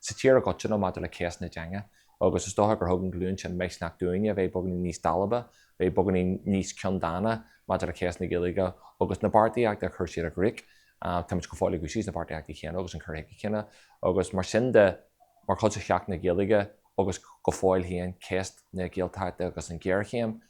sa tír i gcoitinne maidir le ceist na teanga agus is dócha gur thug an ghlúin sin misneach dúinne a bheith beagainín níos dalba, bheith beagainín níos ceanndána maidir le ceist na Gaeilge agus na beartaíochta a chuir siad i gcrích. Táimid go fóill ag úsáid na beartaíochtaí céanna agus an cur chuige céanna agus mar sin de mar chuid de Sheachtain na Gaeilge agus go fóill féin ceist na Gaeltachta agus an ghéarchéim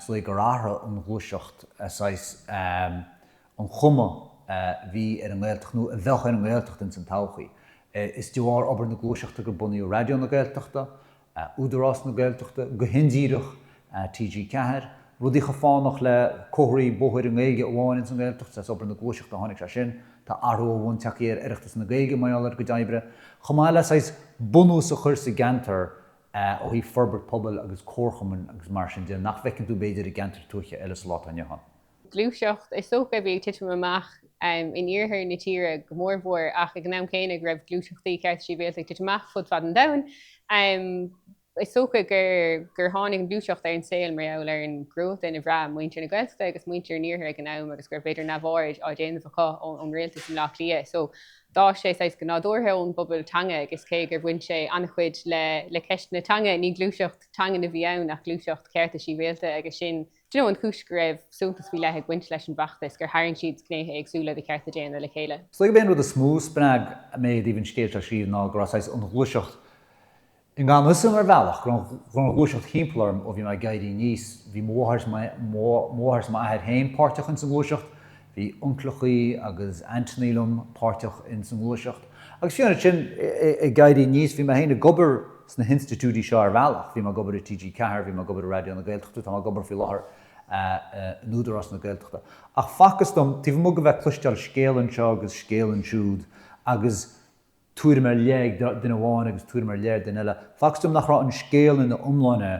so gur athraigh an ghluaiseacht saghas um an chuma a bhí ar an nGaeltacht nó a bheadh ar an nGaeltacht ins an todhchaí. Is de bharr obair na Gluaiseachta gur bunaíodh Raidió na Gaeltachta, Údarás na Gaeltachta, go hindíreach, TG Ceathair, rudaí chomh fánach le comharthaí bóthair i nGaeilge amháin ins an nGaeltacht. Is as obair na Gluaiseachta a tháinig sé sin. Tá athrú ó bhonn tagtha ar Oireachtas na Gaeilge mar gheall ar a gcuid oibre, chomh maith le saghas bunús a chur sa gceantar ó thaobh forbairt pobail agus comharchumainn agus mar sin de, nach bhfeiceann tú, b'fhéidir, i gceantair tuaithe eile sa lá atá inniu ann. Gluaiseacht is dócha a bhí ag titim amach in iarthar na tíre go mór mhór ach ag an am céanna go raibh gluaiseachtaí cearta sibhialta ag titim amach fud fad an domhain. Is dócha gur tháinig an gluaiseacht ar an saol mar gheall ar an gcruatan a bhraith muintir na Gaeltachta agus muintir an iarthair ag an am agus go raibh, b'fhéidir, neamhaird á déanamh acu ón rialtas i mBleá Cliath. d'fhás sé saghas go nádúrtha ón bpobal teanga agus cé gur bhain sé an-chuid le ceist na teanga, ní gluaiseacht teangan a bhí ann ach gluaiseacht cearta sibhialta agus sin an chúis go raibh suntas faoi leith ag baint leis an bhfeachtas, gur tharraing siad gnéithe éagsúla de chearta daonna le chéile. Is dóigh gurb é an rud is mó a spreag mé i dtaobh an scéil seo a scríobh ná go raibh saghas an ghluaiseacht I ngan fhios dom ar bhealach, go raibh an ghluaiseacht thimpeall orm ó bhí mé ag éirí aníos. Bhí mo mháthair is m'athair féin páirteach ins an ghluaiseacht, bhí uncaileachaí agus ainteannaí liom páirteach ins an ghluaiseacht. Agus fiú ansin ag éirí aníos, bhí mé féin ag obair sna hinstitiúidí seo ar bhealach. Bhí mé ag obair i TG Ceathair, bhí mé ag obair i Raidió na Gaeltachta, tá mé ag obair faoi láthair in Údarás na Gaeltachta. Ach facthas dom, taobh amuigh de bheith ag cloisteáil scéal anseo agus scéal ansiúd agus, tuairim ar leith ag duine amháin agus tuairim ar leith ag duine eile. Facthas dom nach raibh an scéal ina iomláine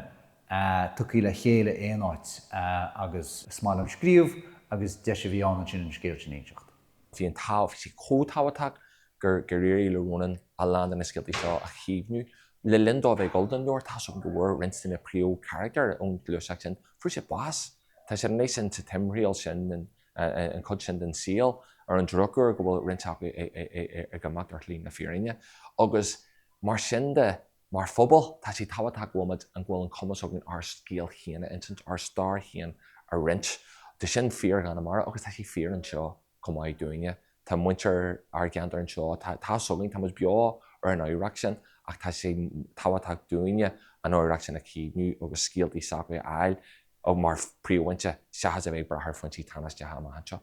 tugtha le chéile aon áit agus is maith liom scríobh agus deis a bhí ann ansin an scéal sin a inseacht. Bhí an tá sé chomh tábhachtach gur éirigh le Rónán a lán de na scéalta seo a chaomhnú. Le linn dó a bheith ag gabháil don leabhar, tá a fhios agam go bhfuair roinnt de na príomhcharachtair ón ghluaiseacht sin, fuair siad bás. Tá siad anois sa timthriall sin an chuid sin den saol, ar an drochuair, go bhfuil roinnt acu ag imeacht ar shlí na fírinne, agus mar sin de, mar phobal, tá sé tábhachtach go bhfuil muid, go bhfuil an cumas againn ár scéal féin a insint, ár stair féin a roinnt. Tá sin fíor i gConamara agus tá sé fíor anseo chomh maith dúinne. Tá muintir ár gceantar anseo, tá a fhios againn, tá muid beo ar an oidhreacht sin ach tá sé tábhachtach dúinne an oidhreacht sin a chaomhnú agus scéaltaí s'agaibh a fháil mar phríomhfhoinse seachas a bheith ag brath ar fhoinsí tánaisteacha amach anseo.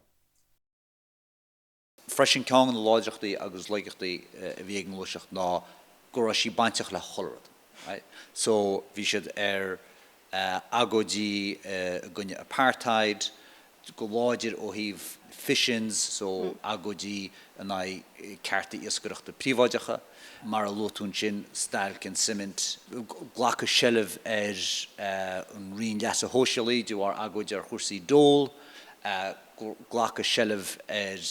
Freisin, ceann de na láidreachtaí agus laigeachtaí a bhí ag an ngluaiseacht ná go raibh sí bainteach le chuile rud. Right, so bhí siad ar agóidí i gcoinne apartheid go láidir ó thaobh fish-ins, so agóidí in aghaidh cearta iascaireachta príobháideacha, mar a luaigh tú ansin, stailc na suiminte, glacadh seilbh ar an Roinn Leasa Shóisialaigh de bharr agóid ar chúrsaí dole, glacadh seilbh ar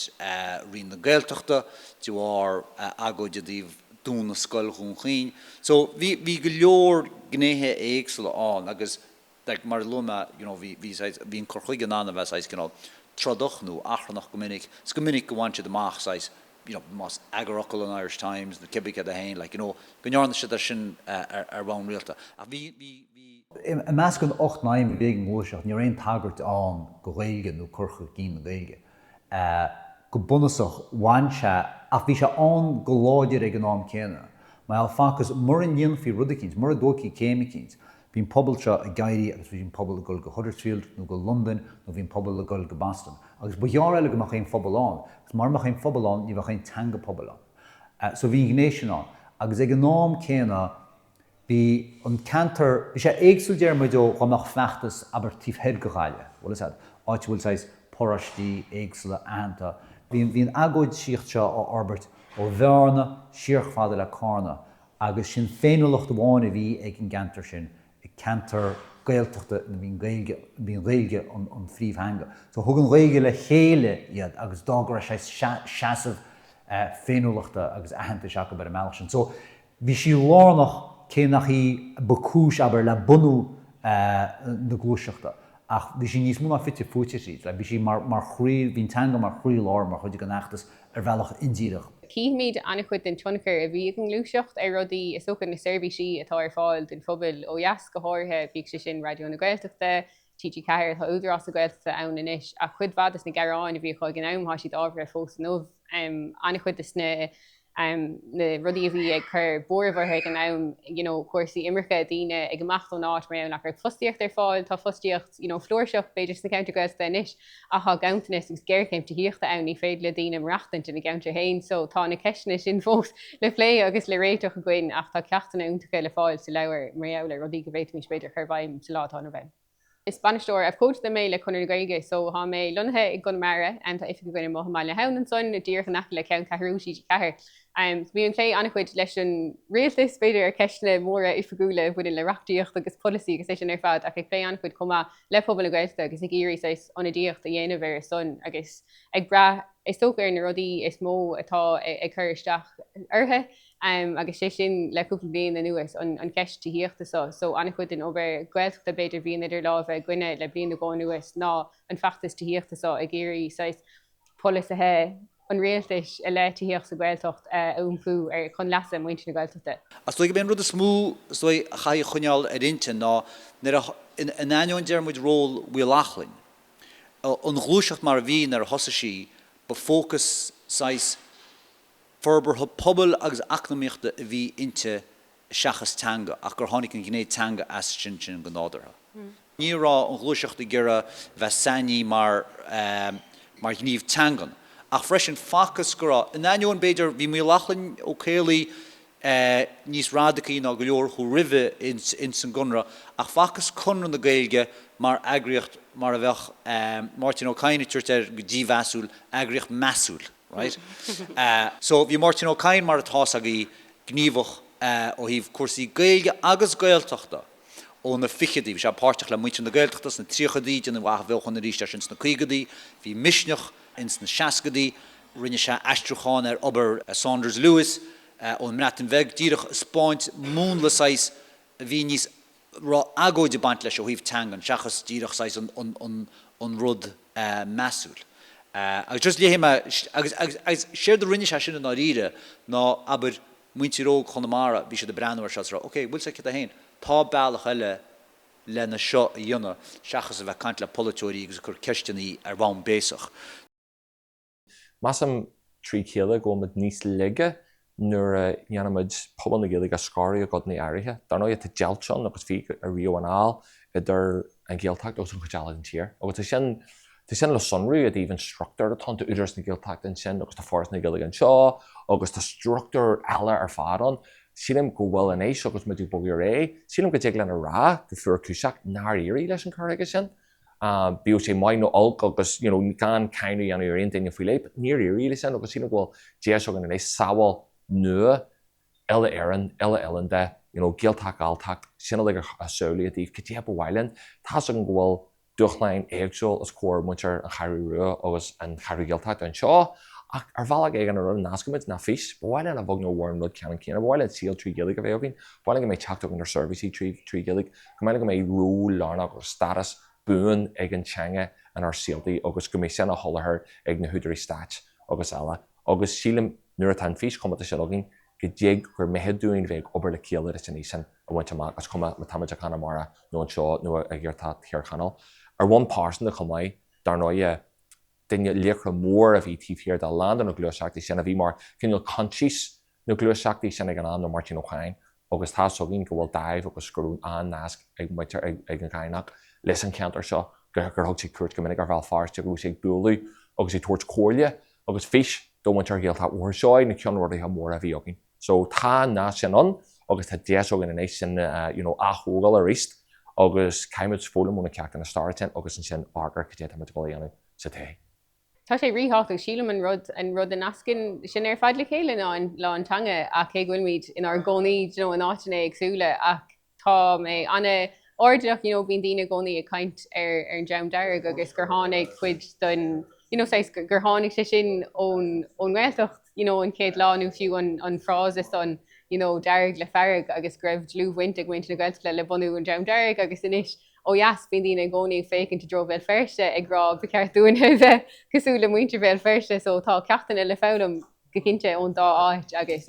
Roinn na Gaeltachta de bharr agóid i dtaobh, dúnadh Scoil Dhún Chaoin. So bhí, bhí go leor gnéithe éagsúla ann agus like mar a luaigh mé you know bhí, bhí saghas, bhí an cur chuige in ann a bheith saghas cineál trodach nó achrannach go minic. Is go minic go bhain siad amach saghas you know más eagarfhocal an Irish Times nó cibé céard é féin like you know go ndearna siad é sin ar bhonn rialta. Ach bhí, bhí, bhí. I measc an ocht n-aidhm a bhí ag an ngluaiseacht ní raibh aon tagairt ann go Ghaeilge nó cur chun cinn na Gaeilge. Go bunúsach, bhain sé, ach bhí sé ann go láidir ag an am céanna. Mar shampla, facthas, mura ndéanfaí rud eicínt, mura dtógfaí céim eicínt, bhí an pobal seo ag imeacht agus bhí an pobal ag dul go Huddersfield nó go Londain nó bhí an pobal ag dul go Boston. Agus ba ghearr eile go mbeadh aon phobal ann agus mura mbeadh aon phobal ann, ní bheadh aon teanga pobail ann. So bhí an ghné sin ann. Agus ag an am céanna, Bhí an ceantar, bhí sé éagsúil déarfaidh muid ó dá mbeadh feachtas abair taobh thoir de Ghaillimh, bhuel áit a bhfuil saghas paróistí éagsúla aitheanta, bhí an, bhí an agóidíocht seo á forbairt ó Bhearna siar chomh fada le Carna agus sin féiniúlacht amháin a bhí ag an gceantar sin, ceantar Gaeltachta ina bhí an Ghaeilge, bhí an Ghaeilge an phríomhtheanga. So thug an Ghaeilge le chéile iad agus d'fhág go raibh saghas seasamh féiniúlachta agus aitheantais acu ar an mbealach sin. So Bhí sí lárnach, cé nach í ba cúis, abair, le bunú na gluaiseachta, ach bhí sí níos mó ná fite fuaite tríd, bhí sí mar chroí, bhí an teanga mar chroí-lár, mar chuid den fheachtas ar bhealach indíreach. Cífimid an-chuid den tionchar a bhí ag an ngluaiseacht ar rudaí is dócha, na seirbhísí atá ar fáil don phobal ó dheas go háirithe, bíodh sé sin Raidió na Gaeltachta, TG4. Tá Údarás na Gaeltachta ann anois ach cuid mhaith des na gearáin a bhí acu ag an am, tá siad ábhartha fós inniu. An-chuid des na rudaí a bhí ag cur buairimh orthu ag an am, you know cúrsaí imirce, daoine ag imeacht ón áit mar gheall nach raibh fostaíocht ar fáil, tá fostaíocht you know flúirseach b'fhéidir sna ceantair Ghaeltachta anois. Ach tá ganntanas agus géarchéim tithíochta ann, ní féidir le daoine maireachtaint ina gceantair féin so tá na ceisteanna sin fós le plé agus le réiteach againn ach tá ceachtanna iontacha le fáil sa leabhar mar gheall ar rudaí go bhféadfaimis b'fhéidir a chur i bhfeidhm sa lá atá inniu ann. Is bainisteoir abhcóideachta mé le Conradh na Gaeilge so tá mé lonnaithe i gConamara. Tá oifig againn amuigh i mBaile na hAbhann ansin, díreach in aice le ceanncheathrú TG4. Bím ag plé an-chuid leis an Rialtas, b'fhéidir, ar cheisteanna móra oifigiúla a bhaineann le reachtaíocht agus polasaí agus é sin ar fad ach ag plé an-chuid chomh maith le pobal na Gaeltachta agus ag iarraidh saghas ionadaíocht a dhéanamh ar a son agus ag brath, is dócha, ar na rudaí is mó atá ag cur isteach orthu agus sé sin le cúpla bliain anuas an cheist tithíochta so. So an-chuid den obair Ghaeltachta b'fhéidir bhíonn idir lámha againne le bliain nó dhó anuas ná an feachtas tithíochta so ag iarraidh saghas polasaithe an Rialtais i leith tithíocht sa Ghaeltacht a iompú chun leasa muintir na Gaeltachta. Ach is dóigh gob é an rud is mó is dóigh a chaithfidh coinneáil ar intinn ná nuair a, in ainneoin deir muid ról Mhaolachlainn, an ghluaiseacht mar a bhí nuair a thosaigh sí, ba fócas saghas forbartha pobail agus eacnamaíochta a bhí inti seachas teanga, ach gur tháinig an ghné teanga as sin go nádúrtha. Ní raibh, an ghluaiseacht ag iarraidh bheith sainithe mar mar ghníomh teangan, ach freisin facthas go raibh, in ainneoin, b'fhéidir, bhí Maolachlainn Ó Caollaí níos radacaí ná go leor acu roimhe insa gConradh, ach facthas Conradh na Gaeilge mar eagraíocht mar a bheadh, Máirtín Ó Cadhain ag tabhairt air go dímheasúil, eagraíocht measúil, right? So bhí Máirtín Ó Cadhain mar atá a fhios agaibh gníomhach ó thaobh cúrsaí Gaeilge agus Gaeltachta ó na ficheadaí. Bhí sé páirteach le Muintir na Gaeltachta sna tríochadaí, déanadh athbheochan arís air sin sna caogadaí, bhí Misneach ins na seascadaí, rinne sé aistriúchán ar obair Saunders Lewis ón mBreatain Bheag, díreach ag spáint múnla saghas a bhí níos. raibh agóid ag baint leis ó thaobh teangan seachas díreach saghas an rud measúil agus just léifidh mé agus séard a rinne sé sin i ndáiríre ná abair muintir óg Chonamara bhí siad ag breathnú ar seo is rá ok bhfuil sé cad é féin tá bealach eile lena seo a dhéanamh seachas a bheith caint le polaiteoirí agus ag cur ceisteannaí ar bhonn béasach. Measaim fríd a chéile go bhfuilmid níos laige nuair a dhéanaimid pobal na Gaeilge a scaradh i gcodanna áirithe. Dar ndóigh tá deighilt ann agus bhí ariamh anall idir an Ghaeltacht agus an chuid eile den tír. Agus tá sin le sonrú i dtaobh an struchtúir atá ann, tá Údarás na Gaeltachta ansin agus tá Foras na Gaeilge anseo agus tá struchtúir eile ar fad ann. Sílim go bhfuil anois agus muid ag bogadh ar aghaidh, sílim go dtig linn a rá go fuarchúiseach nár éirigh leis an cur chuige sin. bíodh sé maith nó olc, agus gan cáineadh a dhéanamh ar aon duine faoi leith, níor éirigh le sin agus sílim go bhfuil deis againn anois samhail nua, uile-Éireann, uile-oileánda, you know Gaeltacht, Galltacht, sin uilig ar a shamhlú i dtaobh cad é a ba mhaith linn. Tá's agam go bhfuil dúshláin éagsúla os comhair muintir an Cheathrú Rua agus an Cheathrú Ghaeltachta anseo ach ar bhealach éigin an rud a nascaimid ná fís, ba mhaith linn a bheag nó a mhór an rud ceanann céanna, ba mhaith linn saol trí Ghaeilge a bheith againn, ba mhaith linn go mbeidh teacht againn ar seirbhísí trí Ghaeilge. Go mbeidh, go mbeidh ról lárnach agus stádas buan ag an teanga inár saoltaí agus go mbeidh sin á sholáthar ag na húdaráis stáit agus eile agus sílim nuair atá an fís chomónta sin againn go dtig gur mithid dúinn bheith ag obair le chéile leis an fhís sin a bhaint amach is cuma má táimid i gConamara nó anseo nó i Gaeltacht Thír Chonaill. Ar bhonn pearsanta chomh maith, dar ndóighe, duine laochra mór a bhí taobh thiar de a lán de na gluaiseachtaí sin a bhí mar chineál coinsias na gluaiseachtaí sin ag an am ná Máirtín Ó Cadhain agus tá a fhios againn go bhfuil dáimh agus go raibh an-nasc ag muintir ag an gCadhnach leis an cheantar seo, gur thug sé cuairt go minic ar Bhéal Feirste agus go raibh sé ag bualadh agus ag tabhairt comhairle agus fís do mhuintir Ghaeltacht Bhóthar Seoighe, na ceannródaithe móra a bhí againn. So tá an nasc sin ann agus tá deis againn anois sin a ath-thógáil arís agus caithfimid foghlaim ó na ceachtanna staire sin agus ansin amharc ar cad é atá muid ag dul a dhéanamh sa tae. Tá sé ríthábhachtach, sílim, an rud an rud a nascann sinn ar fad le chéile ná an ná an teanga ach cé go bhfuilimid inár gcónaí you know in áiteanna éagsúla ach tá mé an-airdeallach you know bíonn daoine i gcónaí ag caint ar ar an Dream Dearg agus gur tháinig cuid den you know saghas gur tháinig sé sin ón ón nGaeltacht you know an chéad lá nó fiú an an frása sin you know Dearg le Fearg agus go raibh dlúthbhaint ag muintir na Gaeltachta le bunú an Dream Dearg agus anois Ó dheas, bíonn daoine i gcónaí ag féachaint i dtreo Bhéal Feirste ag rá 'ba cheart dúinn a bheith cosúil le muintir Bhéal Feirste' so tá ceachtanna le foghlaim go cinnte ón dá áit agus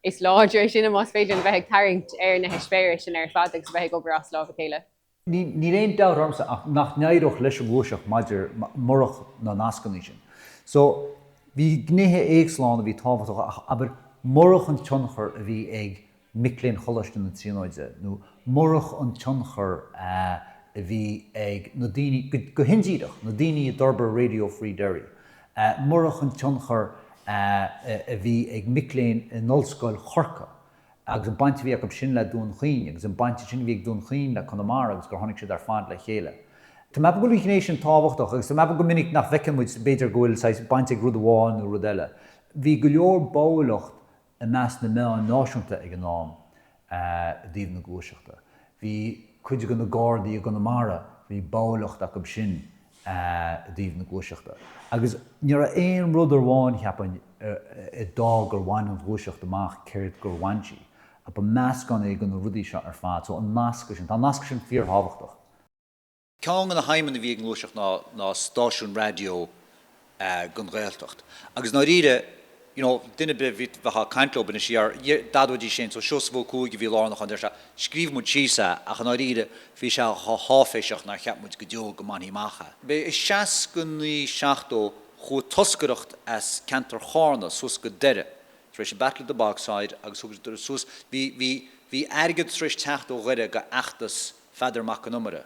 is láidre sinn más féidir linn a bheith ag tarraingt ar na heispéiris sin ar fad agus a bheith ag obair as lámh a chéile. Níl aon dabht ormsa ach nach n-éireodh leis an nGluaiseacht maidir murach na nascanna sin. So bhí gnéithe éagsúla ann a bhí tábhachtach ach, abair, murach an tionchar a bhí ag mic léinn Choláiste na Tríonóide, nó murach an tionchar a a bhí ag na daoine, go hindíreach, na daoine a d'fhorbair Radio Free Derry, murach an tionchar a a bhí ag mic léinn in Ollscoil Chorcaí agus an baint a bhí acu sin le Dún Chaoin agus an baint ansin a bhí ag Dún Chaoin le Conamara agus gur tháinig siad ar fad le chéile. Tá mé ag ceapadh go bhfuil an ghné sin tábhachtach agus tá mé ag ceapadh go minic nach bhfeiceann muid b'fhéidir go bhfuil saghas baint ag rud amháin nó rud eile. Bhí go leor báúlacht i measc na meáin náisiúnta ag an am i dtaobh na gluaiseachta. Bhí cuid de na Gardaí i gConamara, bhí báúlacht acu sin i dtaobh na gluaiseachta. Agus níorbh aon rud ar amháin, cheapfainn, a d'fhág gur bhain an ghluaiseacht amach céard a bhain sí, ba meascán é de na rudaí seo ar fad. So an nasc sin, tá an nasc sin fíorthábhachtach. Ceann de na haidhmeanna a bhí ag an ngluaiseacht ná ná stáisiún raidió don Ghaeltacht agus i ndáiríre you know duine ar bith a bhí bheadh ag caint leob ó shin siar d'admhóidís é sin so Seosamh Ó Cuaig a bhí lárnach ann deir sé scríobh muid síos é ach i ndáiríre bhí sé chomh háiféiseach nár cheap muid go deo go mbainfí amach é. B'é i seasca naoi seachtó chuaigh toscaireacht as ceantar Chárna suas go Doire tar éis Battle of the Bogside agus thug siad suas bhí bhí bhí airgead tar éis teacht ó Dhoire go feachtas Pheadair Mac an Iomaire,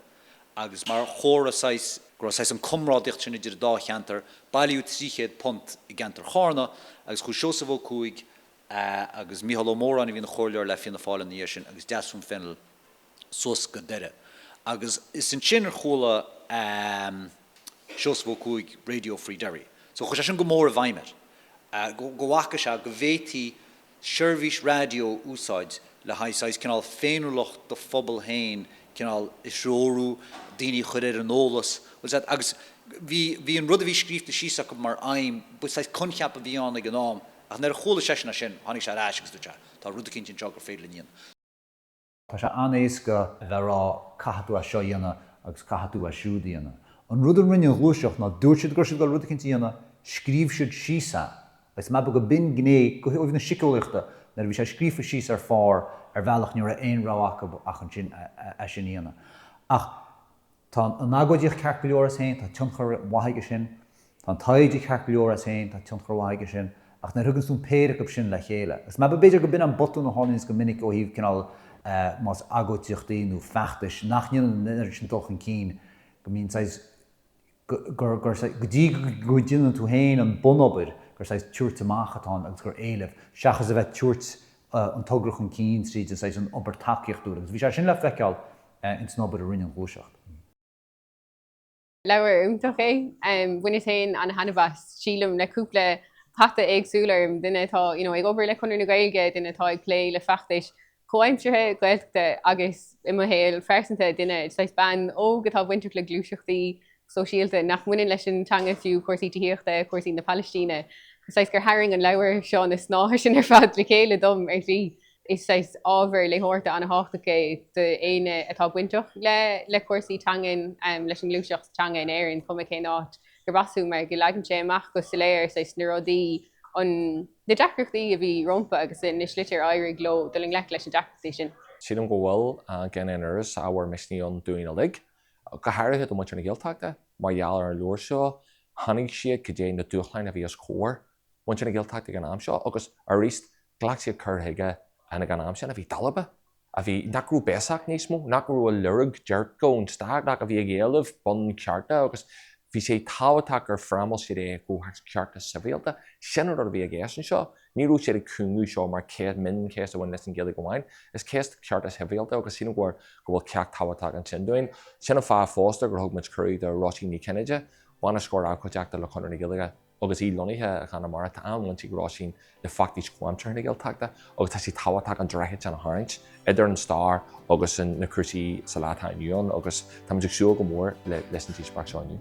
agus mar chomhartha saghas, go raibh saghas an comrádaíocht sin idir an dá cheantar, bailíodh £300 i gceantar Chárna agus chuaigh Seosamh Ó Cuaig agus Micheál Ó Móráin a bhí ina chomhairleoir le Fianna Fáil ina dhiaidh sin agus Deasún Fennell suas go Doire agus is ansin a chuala Seosamh Ó Cuaig Radio Free Derry so chuir sé sin go mór i bhfeidhm air go bhfaca sé go bhféadfaí seirbhís raidió a úsáid le haghaidh saghas cineál féiniúlacht do phobal féin cineál a threorú, daoine a chur ar an eolas, bhfuil a fhios agat, agus bhí, bhí an rud a bhí scríofa síos acu mar aidhm, ba saghas coincheap a bhí ann ag an am ach nuair a chuala seisean é sin tháinig sé ar ais agus dúirt sé tá rud eicínt anseo gur féidir linn a dhéanamh. Tá sé an-éasca a bheith ag rá 'caithfidh tú é seo a dhéanamh' agus 'caithfidh tú é siúd a dhéanamh'. An rud a rinne an ghluaiseacht ná dúirt siad go raibh siad ag dul rud eicínt a dhéanamh, scríobh siad síos é agus maybe gurb in gné ó thaobh na siceolaíochta nuair a bhí sé scríofa síos ar phár ar bhealach ní raibh aon rogha acu ach ansin é sin a dhéanamh. Ach. Tá an agóidíocht ceart go leor as féin, tá tionchar mhaith aige sin, tá an taighde ceart go leor as féin, tá tionchar mhaith aige sin, ach nuair a thuganns tú an péire acu sin le chéile, agus maybe, b'fhéidir gurb in an botún a tharlaíonns go minic ó thaobh cineál más agóidíochtaí nó feachtais nach ndéanann an oiread sin dul chun cinn, go mbíonn saghas, gur, gur saghas, go dtí go ndéanann tú féin an bunobair, gur saghas tabhairt amach atá ann agus gur éileamh, seachas a bheith ag tabhairt an togra chun cinn tríd an saghas an obair tacaíochtúil agus bhí sé sin le feiceáil ins an obair a rinne an ghluaiseacht. Leabhar iontach é. Bhaineas féin ana-thaitneamh as. Sílim, le cúpla hata éagsúil orm, duine atá you know ag obair le Conradh na Gaeilge, duine atá ag plé le feachtais chomhaimseartha Ghaeltachta agus, i mo shaol pearsanta, duine, saghas bean óg atá bainteach le gluaiseachtaí sóisialta nach mbaineann leis an teanga fiú, cúrsaí tithíochta, cúrsaí na Palaistíne. Saghas gur tharraing an leabhar seo na snáithe sin ar fad le chéile dom ar shlí. Is saghas ábhar léitheoireachta an-thábhachtach é d'éinne atá bainteach le cúrsaí teangan, leis an ngluaiseacht teanga in Éirinn, cuma cén áit gurb as thú, mar go leagann sé amach go soiléir saghas na rudaí, na deacrachtaí a bhí rompu agus na slite ar éirigh leo dul i ngleic leis na deacrachtaí sin. Sílim go bhfuil gan aon amhras ábhar misnigh ann dúinn uilig go háirithe do mhuintir na Gaeltachta, mar gheall ar an leabhar seo, shainigh siad cad é na dúshláin a bhí os comhair mhuintir na Gaeltachta ag an am seo agus aríst ghlac siad cur chuige an ag an am sin a bhí dalba, a bhí, nach raibh béasach níos mó, nach raibh ag lorg déirce ón stát ach a bhí ag éileamh bunchearta agus bhí sé tábhachtach gur fhrámáil siad é i gcomhthéacs cearta sibhialta. Sin an rud a bhí i gceist anseo. Ní raibh siad ag cúngú seo mar ceist mion, ceist a bhain leis an Ghaeilge amháin. Is ceist cearta sibhialta agus sin, ar ndóigh, go bhfuil ceacht tábhachtach ansin dúinn. Sin an fáth fosta gur thug muid cuireadh do Róisín Ní Chinnéide, Bainisteoir Abhcóideachta le Conradh na Gaeilge, agus í lonnaithe i gConamara, tá an-bhaint ag Róisín le feachtais chomhaimseartha na Gaeltachta agus tá sé tábhachtach an droichead sin a tharraingt. idir an stair agus na cúrsaí sa lá atá inniu ann agus táimid ag súil go mór leis an díospóireacht seo inniu.